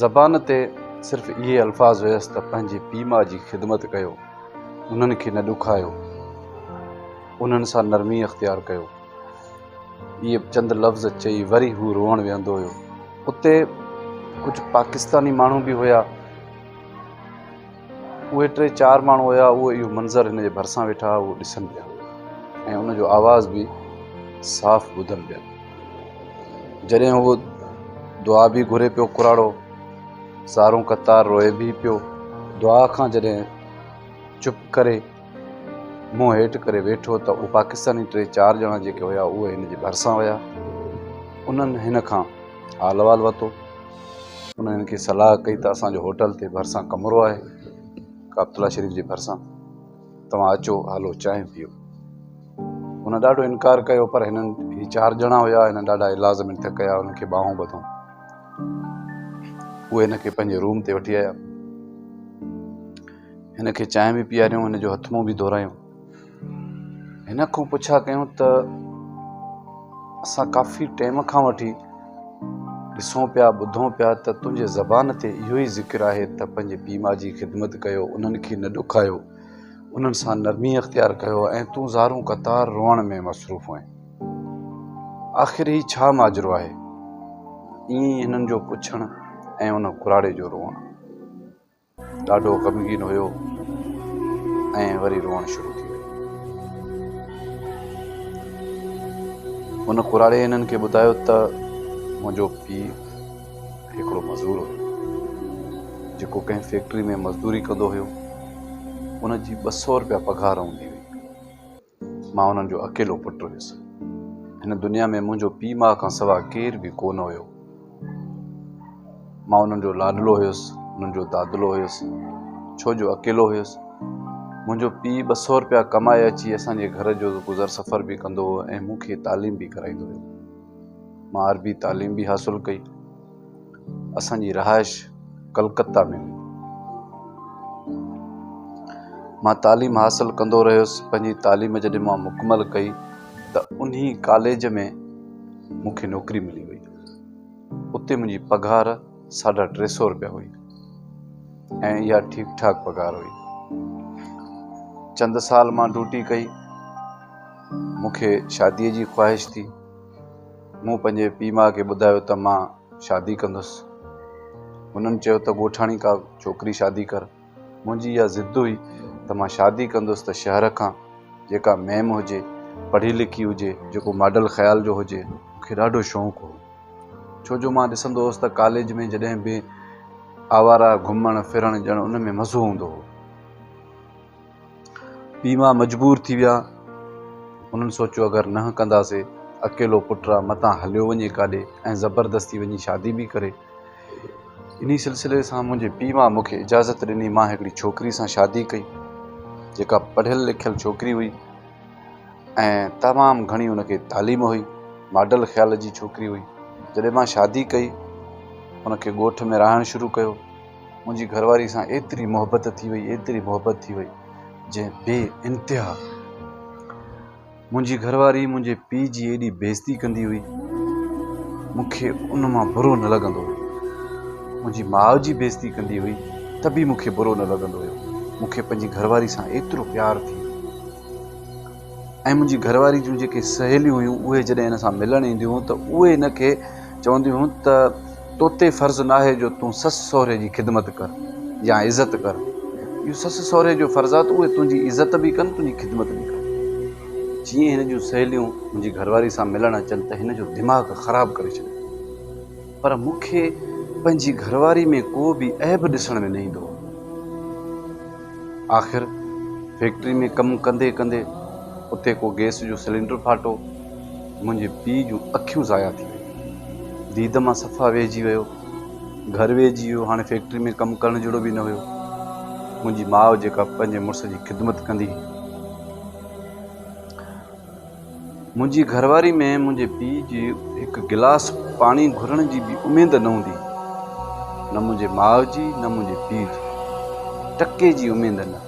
زبان تي صرف اهي الفاظ هيس ته پنهنجي پيء ماء جي خدمت ڪيو، انهن کي نه ڏکايو، انهن سان نرمي اختيار ڪيو. اهي چند لفظ چئي وري هو روئڻ ويهندو هيو. اتي ڪجهه پاڪستاني ماڻهو به هيا. اهي ٽي چار ماڻهو هيا اهو اهو منظر هن جي ڀرسان ويٺا اهو ڏسن پيا ۽ ان جو آواز به صاف ٻڌن پيا جڏهن اهو دعا به گهري پيو ڪراڙو سارو قطار روئي به پيو دعا کان جڏهن چپ ڪري منهن هيٺ ڪري ويٺو ته اهو پاڪستاني ٽي چار ڄڻا جيڪي هيا اهي هن جي ڀرسان ويا انهن هن کان حال احوال ورتو انهن کي صلاح ڪئي ته اسان جو هوٽل تي ڀرسان ڪمرو آهي ڪابتلا شريف جي ڀرسان توهان اچو هلو چانهه پيو هن ڏاڍو انڪار ڪيو پر هنن هي چار ڄڻا هيا هنن ڏاڍا الاز منٿ ڪيا هنن کي ٻانهون ٻڌون اهي هن کي پنهنجي روم تي وٺي آيا هن کي چانهه به پياريون هن جو هٿ منهن به ڌورائيون هن کان پڇا ڪيون ته اسان ڪافي ٽيم کان وٺي ڏسون پيا ٻڌون پيا ته تنهنجي زبان تي اهو ئي ذڪر آهي ته پنهنجي پيء ماء جي خدمت ڪيو انهن کي نه ڏکايو انهن سان نرمي اختيار ڪيو ۽ تون زارون قطار روئڻ ۾ مصروف هئين آخر هي ڇا ماجرو آهي ائين هنن جو پڇڻ ۽ ان ڪراڙي جو روئڻ ڏاڍو غمگين هيو ۽ وري روئڻ شروع ٿي ويو. هن ڪراڙي هنن کي ٻڌايو ته منهنجو پيء هڪڙو مزور هيو جيڪو ڪنهن فيڪٽري ۾ مزدوري ڪندو هيو. ان جي ٻه سؤ رپيا پگهار هوندي هئي. مان انهن جو اڪيلو پٽ هيس. هن دنيا ۾ منهنجو پيء ماء کان سوا ڪير به ڪو نه هيو. مان انهن جو لاڏلو هيس، انهن جو دادلو هيس. ڇو جو اڪيلو هيس. منهنجو پيء ٻه سؤ رپيا ڪمائي اچي اسان جي گهر جو گذر سفر به ڪندو هو ۽ مون کي تعليم به ڪرائيندو هيو. مان عربي تعليم به حاصل ڪئي. اسان جي رهائش ڪلڪته ۾ هئي. مان تعليم حاصل ڪندو رهيس. پنهنجي تعليم جڏهن مان مڪمل ڪئي ته انهي ڪاليج ۾ مون کي نوڪري ملي وئي. اتي منهنجي پگهار ساڍا ٽي سئو رپيا هئي ۽ اها ٺيڪ ٺاڪ پگهار هئي. چند سال مان ڊوٽي ڪئي. مون کي شاديء جي خواهش ٿي. مون پنهنجي پيء ماء کي ٻڌايو ته مان شادي ڪندس. هنن چيو ته ڳوٺاڻي ڪا ڇوڪري شادي ڪر. منهنجي اها ضد هئي ته مان شادي ڪندس ته شهر کان جيڪا ميم هجي، پڙهي لکي هجي، جيڪو ماڊل خيال جو هجي. مون کي ڏاڍو شوق هو ڇو جو مان ڏسندو هوس ته ڪاليج ۾ جڏهن به آوارا گهمڻ ڦرڻ ڄڻ ان ۾ مزو هوندو هو. پيء ماء مجبور ٿي ويا. هنن سوچيو اگر نه ڪنداسي اڪيلو پٽ را متان هليو وڃي ڪاڏي ۽ زبردستي وڃي شادي به ڪري. انهي سلسلي سان منهنجي پيء ماء مون کي اجازت ڏني مان هڪڙي ڇوڪري سان شادي ڪئي جيڪا پڙهيل لکيل ڇوڪري هئي ۽ تمام گهڻي ان کي تعليم هئي. ماڊل خيال جي ڇوڪري هئي. جڏهن مان شادي ڪئي ان کي ڳوٺ ۾ رهائڻ شروع ڪيو. منهنجي گهرواري سان ايتري محبت ٿي وئي ايتري محبت ٿي وئي جنهن بي انتها منهنجي گهرواري منهنجي پيء جي ايڏي بيزتي ڪندي هئي مون کي ان مان برو نه لڳندو هو منهنجي ماء جي بيزتي ڪندي هئي ته به مون کي برو نه لڳندو هيو مون کي پنهنجي گهرواري سان ايترو پيار ٿي ۽ منهنجي گهر واري جون جيڪي سهيليون هيون اهي جڏهن هن سان ملڻ اينديون هيون ته اهي هن کي چونديون هيون ته تو تي فرض ناهي جو تون سس سهري جي خدمت ڪر يا عزت ڪر اهو سس سهري جو فرض آهي ته اهي تنهنجي عزت به ڪن تنهنجي خدمت به ڪن. جيئن هن جون سهيليون منهنجي گهر واري سان ملڻ اچن ته هن جو دماغ خراب ڪري ڇڏيو. پر مون کي پنهنجي گهرواري ۾ ڪو به عيب ڏسڻ ۾ نه ايندو هو. آخر فيڪٽري ۾ ڪم ڪندي ڪندي اتي ڪو گئس جو سلينڊر ڦاٽو. منهنجي پيء جون اکيون ضايع ٿي ويون. ديد مان صفا ويهجي ويو. گهر ويهجي ويو. هاڻي فيڪٽري ۾ ڪم ڪرڻ جهڙو به نه هيو. منهنجي ماء جيڪا پنهنجي مڙس جي خدمت ڪندي هئي. منهنجي گهرواري ۾ منهنجي پيء جي هڪ گلاس پاڻي گهرڻ جي به اميد نه هوندي هئي. نه منهنجي ماء جي نه منهنجي پيء جي ٽڪي جي اميد نه.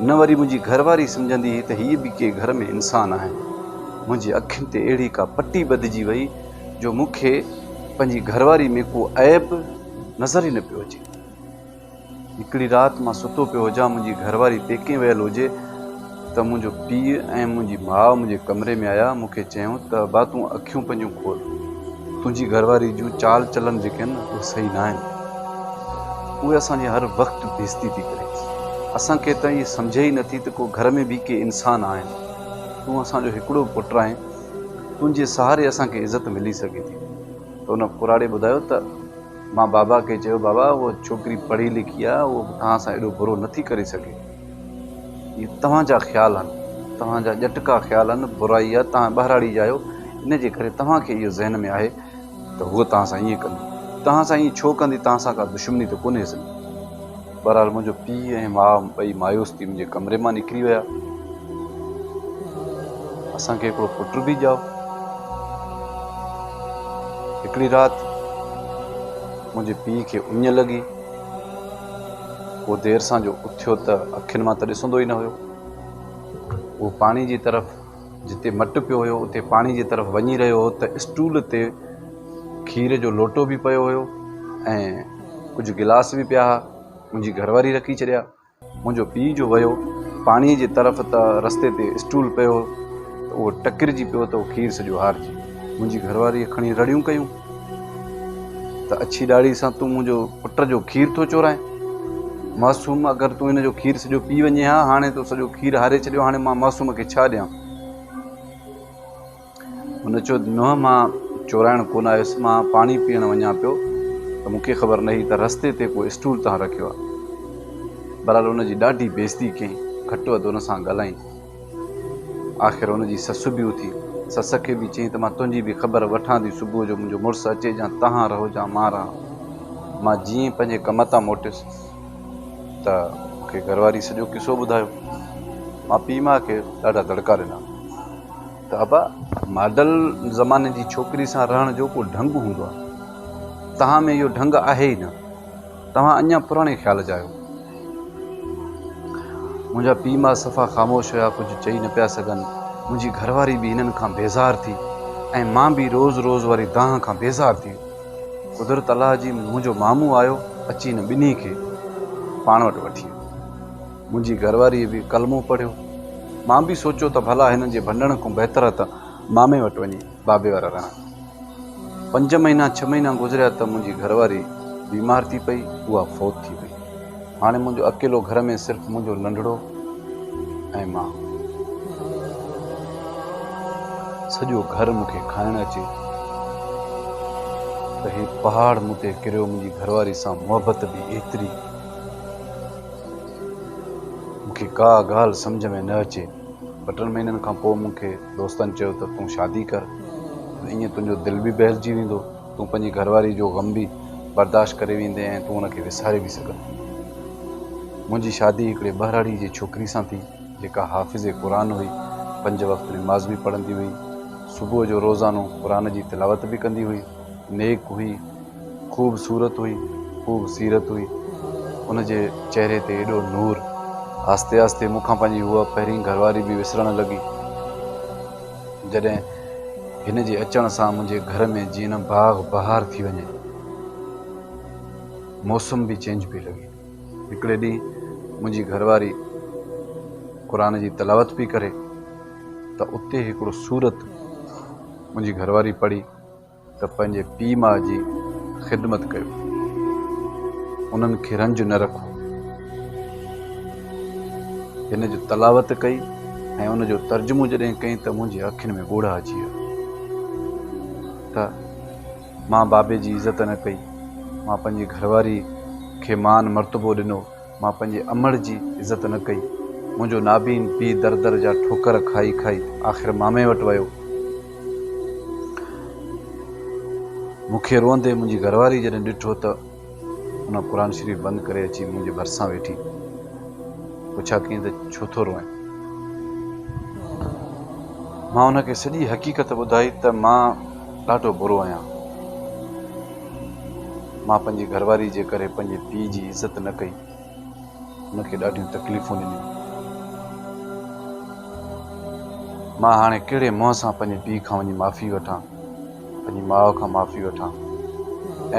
نه وري منهنجي گهرواري سمجهندي هئي ته هي به ڪي گهر ۾ انسان آهن. منهنجي اکين تي اهڙي ڪا پٽي ٻڌجي وئي جو مون کي پنهنجي گهرواري ۾ ڪو عيب نظر ئي نه پيو اچي. هڪڙي رات مان ستو پيو هجان، منهنجي گهر واري پيڪي ويل هجي ته منهنجو پيء ۽ منهنجي ماء منهنجي ڪمري ۾ آيا، مون کي چيائون ته ابا تون اکيون پنهنجون کول، تنهنجي گهر واري جون چال چلن جيڪي آهن اهي صحيح نه آهن، اهي اسان جي هر وقت بيزتي ٿي ڪري، اسان کي ته ائين سمجهي ئي نٿي ته ڪو گهر ۾ به ڪي انسان آهن، تون اسان جو هڪڙو پٽ آهين، تنهنجي سهاري اسان کي عزت ملي سگهي ٿي ته ان ڪراڙي ٻڌايو ته. مان بابا کي چيو بابا اها ڇوڪري پڙهي لکي آهي اهو توهان سان ايڏو برو نه ٿي ڪري سگهي اهي توهان جا خيال آهن توهان جا ڄٽڪا خيال آهن برائي آهي توهان ٻهراڙي جا آهيو ان جي ڪري توهان کي اهو ذهن ۾ آهي ته هوء توهان سان ائين ڪندي توهان سان ائين ڇو ڪندي توهان سان ڪا دشمني ته ڪونهيس نه بهرحال منهنجو پيء ۽ ماء ٻئي مايوس ٿي منهنجي ڪمري مان نڪري ويا. اسان کي هڪڙو پٽ به ڄائو. هڪڙي رات منهنجي پيء کي اڃ لڳي. هو دير سان جو اٿيو ته اکين مان ته ڏسندو ئي نه هيو. هو پاڻي جي طرف جتي مٽ پيو هيو اتي پاڻي جي طرف وڃي رهيو هو ته اسٽول تي کير جو لوٽو به پيو هيو ۽ ڪجهه گلاس به پيا ها منهنجي گهر واري رکي ڇڏيا منهنجو پيء جو ويو پاڻي جي طرف ته رستي تي اسٽول پيو هو ته اهو ٽڪرجي پيو ته کير سڄو هارجي منهنجي گهر واري کڻي رڙيون ڪيون ته اڇي ڏاڙهي سان تون منهنجو پٽ جو کير ٿو چورائين معصوم اگر تون هن جو کير سڄو پي وڃي ها هاڻي تو سڄو کير هاري ڇڏيو هاڻي مان معصوم کي ڇا ڏيان هن چيو نوح مان چورائڻ ڪونه آيس مان پاڻي پيئڻ وڃان پيو ته مون کي خبر نه هئي ته رستي تي ڪو اسٽول تان رکيو آهي بهرحال ان جي ڏاڍي بيزتي ڪيائين گهٽ وڌ ان سان ڳالهائين آخر ان جي سس به اٿي سس کي به چيائين ته مان تنهنجي به خبر وٺان ٿي صبح جو منهنجو مڙس اچي جا تهان رهو جا مان رهان. مان جيئن ئي پنهنجي ڪم تان موٽيس ته مون کي گهرواري سڄو قصو ٻڌايو. مان پيء ماء کي ڏاڍا دڙڪا ڏنا ته ابا ماڊل زماني جي ڇوڪري سان رهڻ جو ڪو ڍنگ هوندو آهي. تهان ۾ اهو ڍنگ آهي ئي نه. توهان اڃا پراڻي خيال جا آهيو. منهنجا پيء ماء صفا خاموش هيا، ڪجهه چئي نه پيا سگهن. منهنجي گهر واري به هنن کان بيزار ٿي ۽ مان به روز روز واري دانهن کان بيزار ٿي ويس. قدرت الله جي منهنجو مامو آيو، اچي هن ٻنهي کي پاڻ وٽ وٺي ويو. منهنجي گهر واريء به ڪلمو پڙهيو. مان به سوچيو ته ڀلا هنن جي ڀنڊڻ کان بهتر ته مامي وٽ وڃي. بابي وارا رڻ. پنج مهينا ڇهه مهينا گذريا ته منهنجي گهر واري بيمار ٿي پئي اها فوت ٿي وئي هاڻي منهنجو اڪيلو گهر ۾ صرف منهنجو ننڍڙو ۽ مان سڄو گهر مون کي کائڻ اچي ته هي پهاڙ مون تي ڪريو منهنجي گهر واري سان محبت به ايتري مون کي ڪا ڳالهه سمجهه ۾ نه اچي ٻه ٽن مهينن کان پوء مون کي دوستن چيو ته تون شادي ڪر ائين تنهنجو دل به بهلجي ويندو تون پنهنجي گهرواري جو غم به برداشت ڪري ويندين ۽ تون ان کي وساري به سگهندين منهنجي شادي هڪڙي ٻهراڙي جي ڇوڪري سان ٿي جيڪا حافظ قرآن هئي پنج وقت نماز به پڙهندي هئي صبح جو روزانو قرآن جي تلاوت به ڪندي هئي نيڪ هئي، خوب صورت هئي، خوب سيرت هئي. ان جي چهري تي ايڏو نور! آهستي آهستي مون کان پنهنجي هوء پهرين گهر واري به وسرڻ لڳي. جڏهن هن جي اچڻ سان منهنجي گهر ۾ جيئن باغ بهار ٿي وڃي. موسم به چينج پئي لڳي. هڪڙي ڏينهن منهنجي گهر واري قرآن جي تلاوت پئي ڪري ته اتي هڪڙو سورت منهنجي گهر واري پڙهي. ته پنهنجي پيء ماء جي خدمت ڪيو، انهن کي رنج نه رکو. هن جو تلاوت ڪئي ۽ ان جو ترجمو جڏهن ڪئين ته منهنجي اکين ۾ ڳوڙها اچي ويا ته مان بابي جي عزت نه ڪئي، مان پنهنجي گهرواري کي مان مرتبو ڏنو. مان پنهنجي امڙ جي عزت نه ڪئي. منهنجو نابين پيء در در جا ٺوڪر کائي کائي آخر مامي وٽ ويو. مون کي روئندي منهنجي گهرواري جڏهن ڏٺو ته ان قرآن شريف بند ڪري اچي منهنجي ڀرسان ويٺي. پڇا ڪيائين ته ڇو ٿو روئين؟ مان ان کي سڄي حقيقت ٻڌائي ته مان ڏاڍو برو آهيان. مان پنهنجي گهرواري جي ڪري پنهنجي پيء جي عزت نه ڪئي. هن کي ڏاڍيون تڪليفون ڏنيون. مان هاڻي ڪهڙي منهن سان پنهنجي پيء کان وڃي معافي وٺان، پنهنجي ماء کان معافي وٺان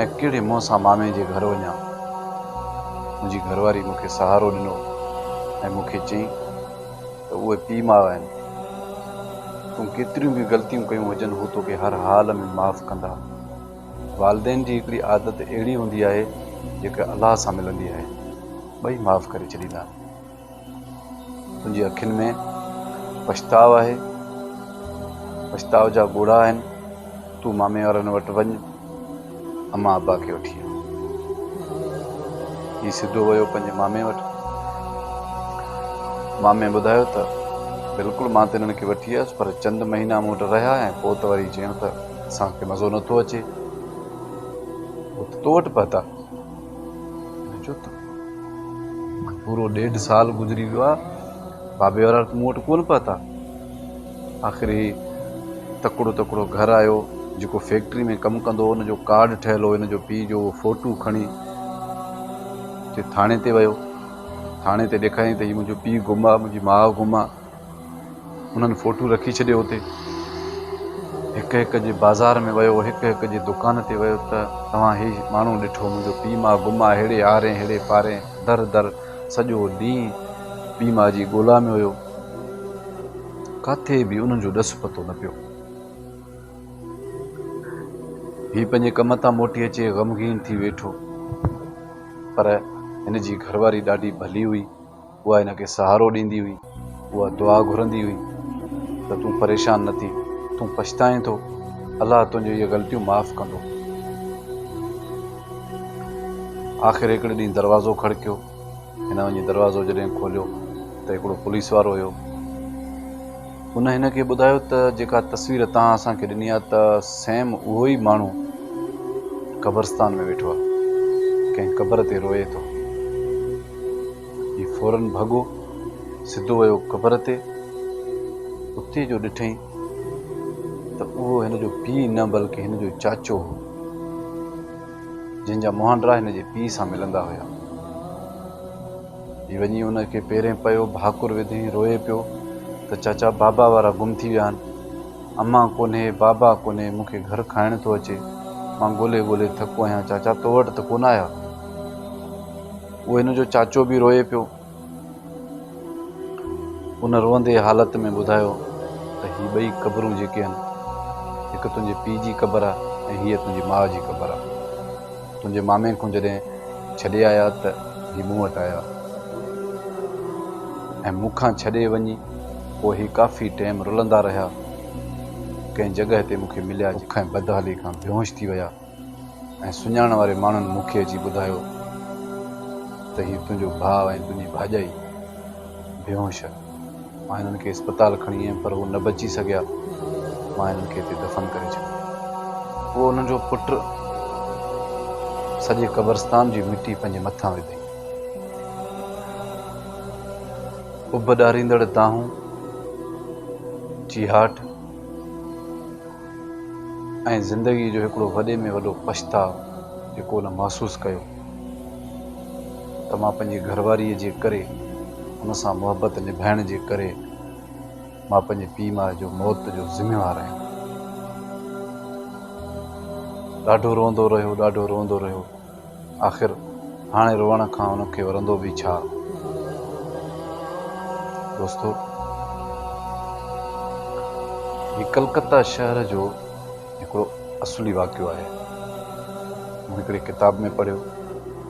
۽ ڪهڙي منهن سان مامي جي گهر وڃان. منهنجي گهرواري مون کي سهارو ڏنو ۽ مون کي چيائين. ته اهي پيء ماء آهن. تون ڪيتريون به غلطيون ڪيون هجن هو توکي هر حال ۾ معاف ڪندا. والدين جي هڪڙي عادت اهڙي هوندي آهي جيڪا الله سان ملندي آهي. ٻئي معاف ڪري ڇڏيندا. تنهنجي اکين ۾ پڇتاء آهي. پڇتاء جا ڳوڙها آهن. تون مامي وارن وٽ وڃ. امان ابا کي وٺي آيو. هي سڌو ويو پنهنجي مامي وٽ. مامي ٻڌايو ته، بلڪل مان ته هنن کي وٺي آيس پر چند مهينا مون وٽ رهيا ۽ پوء ته وري جيئڻ ته اسان کي مزو نٿو اچي. هو ته تو وٽ پهتا. هن چيو ته، پورو ڏيڍ سال گذري ويو آهي، بابي وارا مون وٽ ڪونه پهتا. آخر هي تڪڙو تڪڙو گهر آيو، جيڪو فيڪٽري ۾ ڪم ڪندو هو، ان جو ڪارڊ ٺهيل هو، هن جو پيء جو اهو فوٽو کڻي ٿي ٿاڻي تي ويو، ٿاڻي تي ڏيکاريائين ته هي منهنجو پيء گم آ، منهنجي ماء گم آ، انهن فوٽو رکي ڇڏيو اتي، هڪ هڪ جي بازار ۾ ويو، هڪ هڪ جي دڪان تي ويو ته توهان هي ماڻهو ڏٺو، منهنجو پيء ماء گم آ، هيڙي آرين هيڙي پارين در در سڄو ڏينهن پيء ماء جي ڳولا ۾ هيو. ڪاٿي به انهن جو ڏس پتو نه پيو. هي پنهنجي ڪم تان موٽي اچي غمگين ٿي ويٺو. پر هن جي گهر واري ڏاڍي ڀلي هئي. اها هن کي سهارو ڏيندي هئي. اها دعا گهرندي هئي ته تون پريشان نه ٿي. تون پڇتائين ٿو. الله تنهنجون اهي غلطيون معاف ڪندو. آخر هڪڙي ڏينهن دروازو کڙڪيو. هن وڃي دروازو جڏهن کوليو ته هڪڙو پوليس وارو هيو. ان هن کي ٻڌايو ته جيڪا تصوير توهان اسان کي ڏني آهي ته سيم اهو ئي ماڻهو قبرستان ۾ ويٺو آهي. ڪنهن قبر تي روئي ٿو. هي فورن ڀڳو سڌو ويو قبر تي. اتي جو ڏٺئين ته اهو هن جو پيء نه بلڪ هن جو چاچو هو. جنهن جا مهانڊرا هن جي پيء سان ملندا هيا. هي وڃي ان کي پيرين پيو، ڀاڪر وڌين، روئي پيو ته چاچا بابا وارا گم ٿي ويا آهن. امان ڪونهي، بابا ڪونهي، مون کي گهر کائڻ ٿو اچي. مان ڳولي ڳولي ٿڪو آهيان، چاچا تو وٽ ته ڪونه آيا. اهو هن جو چاچو به روئي پيو. ان روئندي حالت ۾ ٻڌايو ته هي ٻئي قبرون جيڪي هن، هڪ تنهنجي پيء جي قبر آ ۽ هيء تنهنجي ماء جي قبر آ. تنهنجي مامي کون جڏهن ڇڏي آيا ته هي مون وٽ آيا ۽ مون کان ڇڏي وڃي پوء هي ڪافي ٽيم رلندا رهيا. ڪنهن جڳهه تي مون کي مليا جيڪڏهن بد حالي کان بيهوش ٿي ويا. ۽ سڃاڻڻ واري ماڻهن مون کي اچي ٻڌايو ته هي تنهنجو ڀاء ۽ تنهنجي ڀاڄائي بيهوش آهي. مان هنن کي اسپتال کڻي ويم پر هو نه بچي سگهيا. مان هنن کي هتي دفن ڪري ڇڏيو. پوء هنن جو پٽ سڄي قبرستان جي مٽي پنهنجي مٿان وڌي. اڀ ڏاريندڙ دانهون، چيهاٽ، ۽ زندگيء جو هڪڙو وڏي ۾ وڏو پڇتاء جيڪو هن محسوس ڪيو ته مان پنهنجي گهرواريء جي ڪري هن سان محبت نڀائڻ جي ڪري مان پنهنجي پيء ماء جو موت جو ذميوار آهيان. ڏاڍو روئندو رهيو، ڏاڍو روئندو رهيو. آخر هاڻي روئڻ کان ان کي ورندو به ڇا دوستو! هي ڪلڪتا شهر جو هڪڙو اصلي واقعو آهي. مون هڪڙي ڪتاب ۾ پڙهيو.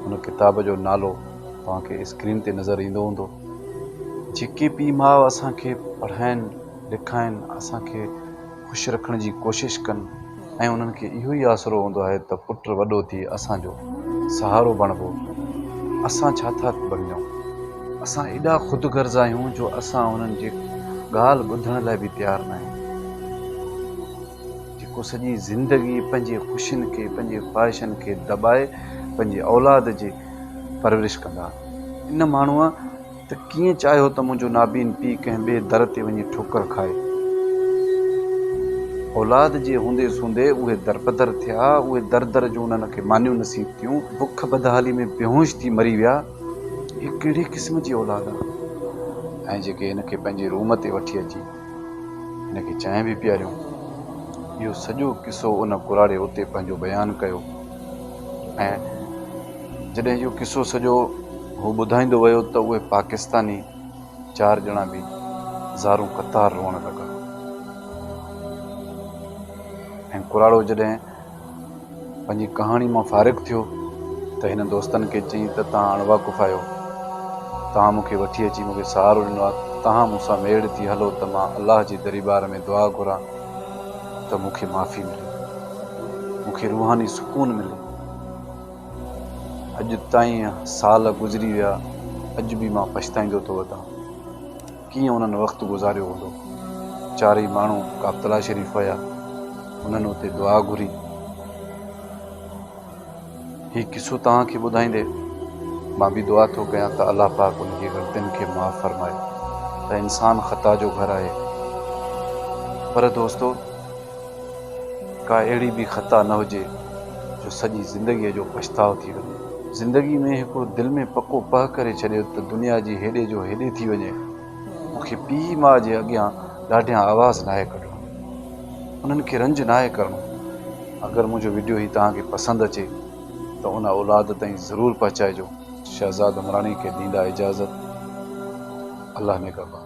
ان ڪتاب جو نالو توهان کي اسڪرين تي نظر ايندو هوندو. جيڪي پيء ماء اسان کي پڙهائين لکائين، اسان کي خوش رکڻ جي ڪوشش ڪن ۽ انهن کي اهو ئي آسرو هوندو آهي ته پٽ وڏو ٿي اسان جو سهارو بڻبو. اسان ڇا ٿا بڻجون؟ اسان ايڏا خود غرض آهيون جو اسان انهن جي ڳالهه ٻڌڻ لاء به تيار ناهيون. جيڪو سڄي زندگي پنهنجي خوشين کي، پنهنجي خواهشن کي دٻائي پنهنجي اولاد جي پرورش ڪندا. ان ماڻهوء. ته ڪيئن چاهيو ته منهنجو نابين پيء ڪنهن ٻئي در تي وڃي ٺوڪر کائي. اولاد جي هونديس هوندي اهي درپدر ٿيا. اهي در در جون انهن کي مانيون نصيب ٿيون. بک بدحالي ۾ بيهوش ٿي مري ويا. هي ڪهڙي قسم جي اولاد آ ۽ جيڪي هن کي پنهنجي روم تي وٺي اچي هن کي چانهه به پياريون. اهو سڄو قصو ان ڪراڙي اتي پنهنجو بيان ڪيو ۽. جڏهن اهو قصو سڄو هو ٻڌائيندو ويو ته اهي پاڪستاني چار ڄڻا به زارون قطار روئڻ لڳا ۽ ڪراڙو جڏهن پنهنجي ڪهاڻي مان فارغ ٿيو ته هن دوستن کي چيائين ته توهان اڻواقف آهيو توهان مون کي وٺي اچي مون کي سهارو ڏنو آهي توهان مون سان ميڙ ٿي هلو ته مان الله جي دريبار ۾ دعا گهران ته مون کي معافي ملي مون کي روحاني سڪون ملي اڄ تائين سال گذري ويا اڄ به مان پڇتائيندو ٿو وتان ڪيئن انهن وقت گذاريو هوندو چارئي ماڻهو ڪابتلا شريف ويا انهن اتي دعا گهري هي قصو توهان کي ٻڌائيندي مان به دعا ٿو ڪيان ته الله پاڪ ان جي غلطين کي معاف فرمائي ته انسان خطا جو گهر آهي پر دوستو ڪا اهڙي به خطا نه هجي جو سڄي زندگيء جو پڇتاء ٿي وڃي. زندگيء ۾ هڪڙو دل ۾ پڪو پهه ڪري ڇڏيو ته دنيا جي هيڏي جو هيڏي ٿي وڃي، مون کي پيء ماء جي اڳيان ڏاڍيان آواز ناهي ڪڍڻو، انهن کي رنج ناهي ڪرڻو. اگر منهنجو وڊيو هي توهان کي پسند اچي ته ان اولاد تائين ضرور پهچائجو. شهزاد عمراڻي کي ڏيندا اجازت. الله نگهبان.